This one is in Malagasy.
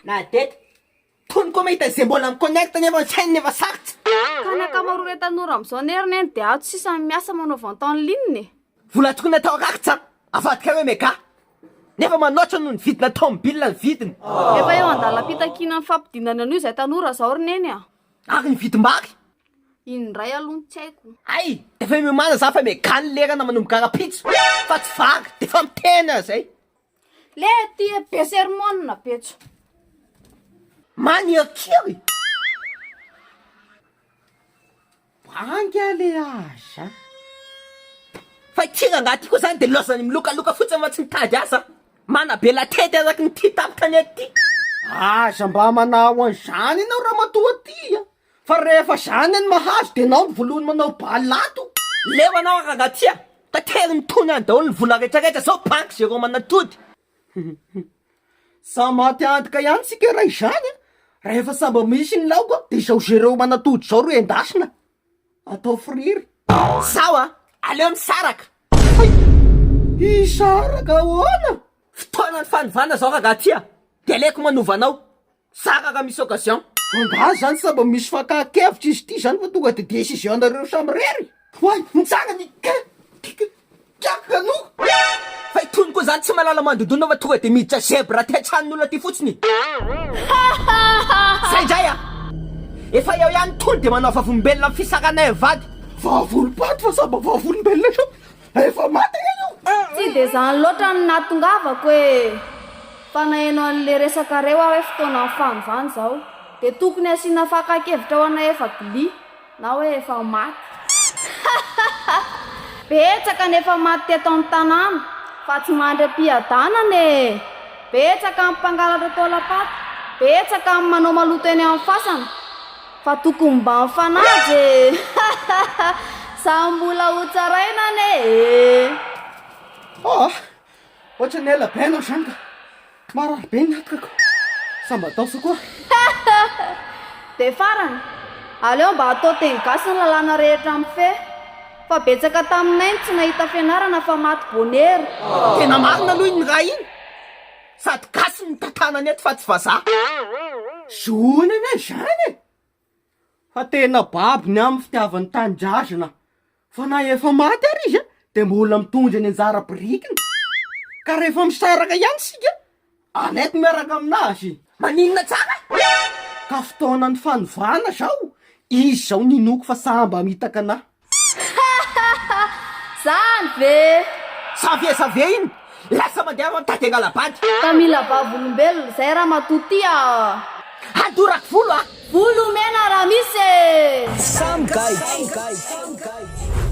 Nadette, tony koa mahita izay mbola mi-connect nefa ny sainy nefa sarotra. Ka ny ankamaroan'ireo tanora amin'izao anie ry Neny dia ato sisa no miasa manao vente en ligne e! Vola tokony atao rakitra avadika hoe mega nefa manoatra noho ny vidina tomobilina ny vidiny. Efa eo an-dalam-pitakiana ny fampidinana an'io izay tanora izao ry Neny a! Ary ny vidim-bary? Iny indray aloha no tsy haiko. Hay! Efa miomana za fa megale lerana manomboka rapitso fa tsy vary defa miteny aza e! Le tia be sermona betso. Manirikiry! Banga le azy a! Fa ity rangahy ity koa zany de laozany milokaloka fotsiny fa tsy mitady asa a! Manabe latety araky ny tia tamin'ny tanety ity! Aza mba manao an'izany ianao ramatoa ty a! Fa rehefa zany any mahazo de nao no volohany manao bal ato. Leo anao aragatia, tateriny mitony any daholo ny vola rehetra rehetra zao banky zero manatody. Samy maty antoka ihany tsika raha izany a! Rahefa sambà misy ny laoka de izao zero manatody izao ro endasina atao friry. Sao a! Aleo misaraka! Hay! Hisaraka ahoana? Fotoanan'ny fanovana zao ragatia de aleko manova anao. Tsara raha misy occasion. Angaha zany sa mba misy fakan-kevitra izy ity zany fa tonga de decision nareo samy rery? Oay! Ny tsara ny ka! Ka! Ka! Kanoka! Fa i Tony koa zany tsy mahalala mandondona fa tonga de miditra zebra aty an-tranon'olona aty fotsiny e! Zay ndray a! Efa eo ihany Tony de manao vavolombelona amin'ny fisarana eo vady! Vavolompaty fa sa mba vavolombelona ihany? Efa maty anie io! Tsy dia izany loatra no nahatongavako e! Fa naheno an'ilay resakareo aho hoe fotoanan'ny fanovana izao, dia tokony hasiana fakan-kevitra ho anay efa bly na hoe efa maty. Hahahaha! Betsaka ny efa maty teto amin'ny tanàna fa tsy mandry am-piadanana e! Betsaka ny mpangalatra taolam-paty, betsaka ny manao maloto eny amin'ny fasana. Fa tokony mba mifanaja e! Hahahha! Samy mbola ho tsaraina anie e! Ôh! Ohatran'ny ela be anao izany ka! Marary be ny natkako! Sa mba daosa koa? Hahahha! Dia farany, aleo mba atao teny gasy ny lalàna rehetra mifehy fa betsaka taminay ny tsy nahita fianarana fa maty bonera! Tena marina aloha iny ra iny! Sady gasy ny tantanany eto fa tsy vazaha. Zohina anie izany e! Fa tena babo ny amin'ny fitiavany tanindrazana fa na efa maty ary izy dia mbola mitondra ny anjara birikiny ka rehefa misaraka ihany isika aleoko miaraka aminazy. Maninona tsara e! Ka fotoanan'ny fanovana zao izy zao ninoako fa saham-bamitaka anahy. Hahaha! Zany ve! Xavier Xavier iny lasa mandeha aro an'i Dada Ngalabady. Ka mila vavolombelona zay ramatoa ty a! Hadorako volo a! Volo mena raha misy e! Samy gaigy!